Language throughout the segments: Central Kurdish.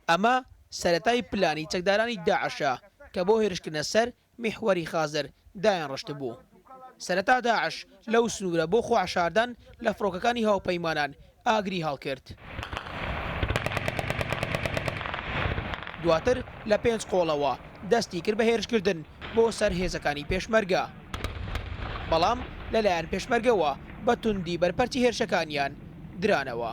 ئەمە سەرەتای پلانی چەکدارانی داعشە کە بۆ هێرشکردنە سەر میحوەری خازر دایانڕشتبوو. سەرەتا داعش لەو سنوورە بۆ خۆحەشاردان لە فڕۆکەکانی هاوپەیمانان ئاگری هەڵکرد. دواتر لە پێنج قۆڵەوە دەستی کرد بە هێرشکردن بۆ سەر هێزەکانی پێشمەرگە. بەڵام لەلایەن پێشمەرگەوە بە توندی بەرپەرچی هێرشەکانیان درانەوە.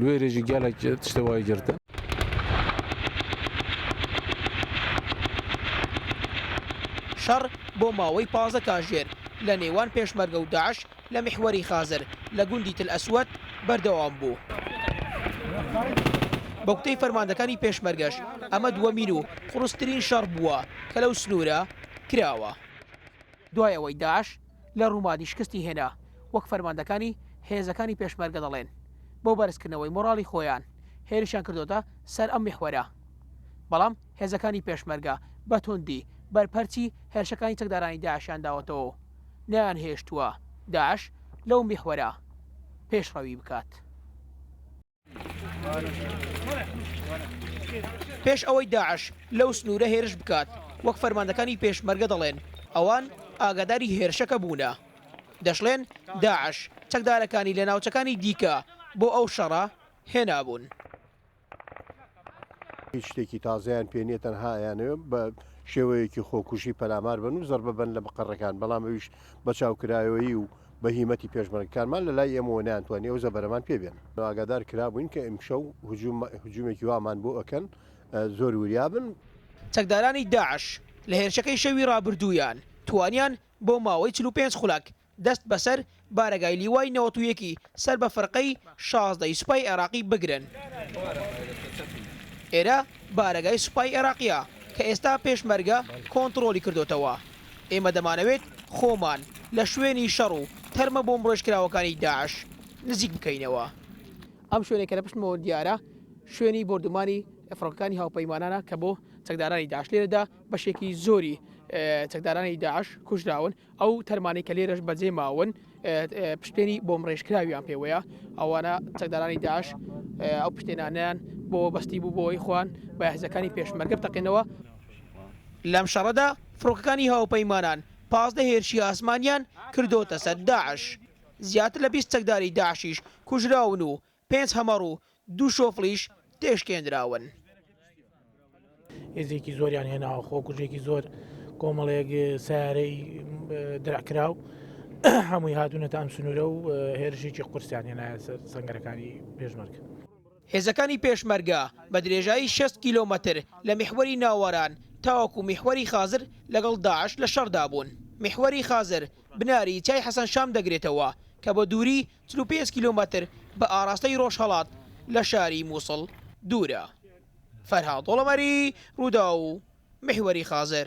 لوێرێژی گەلەک تشتێ وای گرتە. شەڕ بۆ ماوەی پازدە کاژێر لە نێوان پێشمەرگە و داعش لە میحوەری خازر لە گوندی تل ئەسوەد بەردەوام بوو. بە گوتەی فەرماندەکانی پێشمەرگەش ئەمە دووەمین و قورسترین شەڕ بووە کە لەو سنوورە کراوە دوای ئەوەی داعش لە ڕومادی شکستی هێنا، وەک فەرماندەکانی هێزەکانی پێشمەرگە دەڵێن، بۆ بەرزکردنەوەی مۆڕاڵی خۆیان هێرشیان کردۆتە سەر ئەم میحوەرە. بەڵام هێزەکانی پێشمەرگە بە توندی بەرپەرچی هێرشەکانی چەکدارانی داعشیان داوەتەوە و نەیانهێشتووە داعش لەو میحوەرە پێشڕەوی بکات. پێش ئەوەی داعش لەو سنوورە هێرش بکات، وەک فەرماندەکانی پێشمەرگە دەڵێن، ئەوان ئاگاداری هێرشەکە بوونە. دەشڵێن، داعش چەکدارەکانی لە ناوچەکانی دیکە بۆ ئەو شەڕە هێنابوون. هیچ شتێکی تازەیان پێ نییە تەنها ئەیانەوێت بە شێوەیەکی خۆکوژی پەلامار بن و زەربە بن لە مقەڕەکان بەڵام ئەویش بە چاوکرایەوەی و بە هیمەتی پێشمەرگەکانمان لە لای ئێمەوە نیانتوانی ئەو زەبەرەمان پێ بێن ئاگادار کرابووین کە ئیمشەو هجوومێکی وامان بۆ ئەکەن زۆر وریا بن. چەکدارانی داعش لە هێرشەکەی شەوی ڕابردوویان توانیان بۆ ماوەی چل و پێنج خولەک دەست بەسەر بارەگای لیوای نەوەت و یەکی سەر بە فڕقەی شازدە ی سوپای عێراقی بگرن. ئێرە بارەگای سوپای عێراقیە کە ئێستا پێشمەرگە کۆنتڕۆڵی کردۆتەوە. ئێمە دەمانەوێت خۆمان لە شوێنی شەڕ و تەرمە بۆمبڕێژکراوەکانی داعش نزیک بکەینەوە. ئەم شوێنەی کە لە پشتمەوە دیارە، شوێنی بۆردومانی فڕۆکەکانی هاوپەیمانانە کە بۆ چەکدارانی داعش لێرەدا بەشێکی زۆری چەکدارانی داعش کوژراون. ئەو تەرمانەی کە لێرەش بەجێ ماون پشتێنی بۆمڕێژکراویان پێوەیە ئەوانە چەکدارانی داش ئەو پشتێنانیان بۆ بەستی بوو بۆی خوان بەهزەکانی پێشمەرگە بتەقێنەوە. لەم شەڕەدا فڕۆکەکانی هاوپەیمانان پازدە هێرشی ئاسمانیان کردۆتە سەر داعش، زیاتر لە بیست چەکداری داعشیش کوژراون و پێنج هەمەڕ و دوو شۆفڵیش تێشکێندراون. هێزێکی زۆریان هێناوە خۆکوژێکی زۆر کۆمەڵێک سیارەی درعکراو هەمووی هاتوونەتە ئەم سنوورە و هێرشێکی قورسیان هێنایە سەر سەنگەرەکانی پێشمەرگە. هێزەکانی پێشمەرگە بە درێژایی شەست کیلۆمەتر لە میحوەری ناوەران تاوەکو میحوەری خازر لەگەڵ داعش لە شەڕدا بوون. میحوەری خازر بناری چای حەسەن شام دەگرێتەوە کە بە دووری چل و پێنج کیلۆمەتر بە ئاراستەی ڕۆژهەڵات لە شاری مووسڵ دوورە. فەرهاد دۆڵەمەری، رووداو، میحوەری خازر.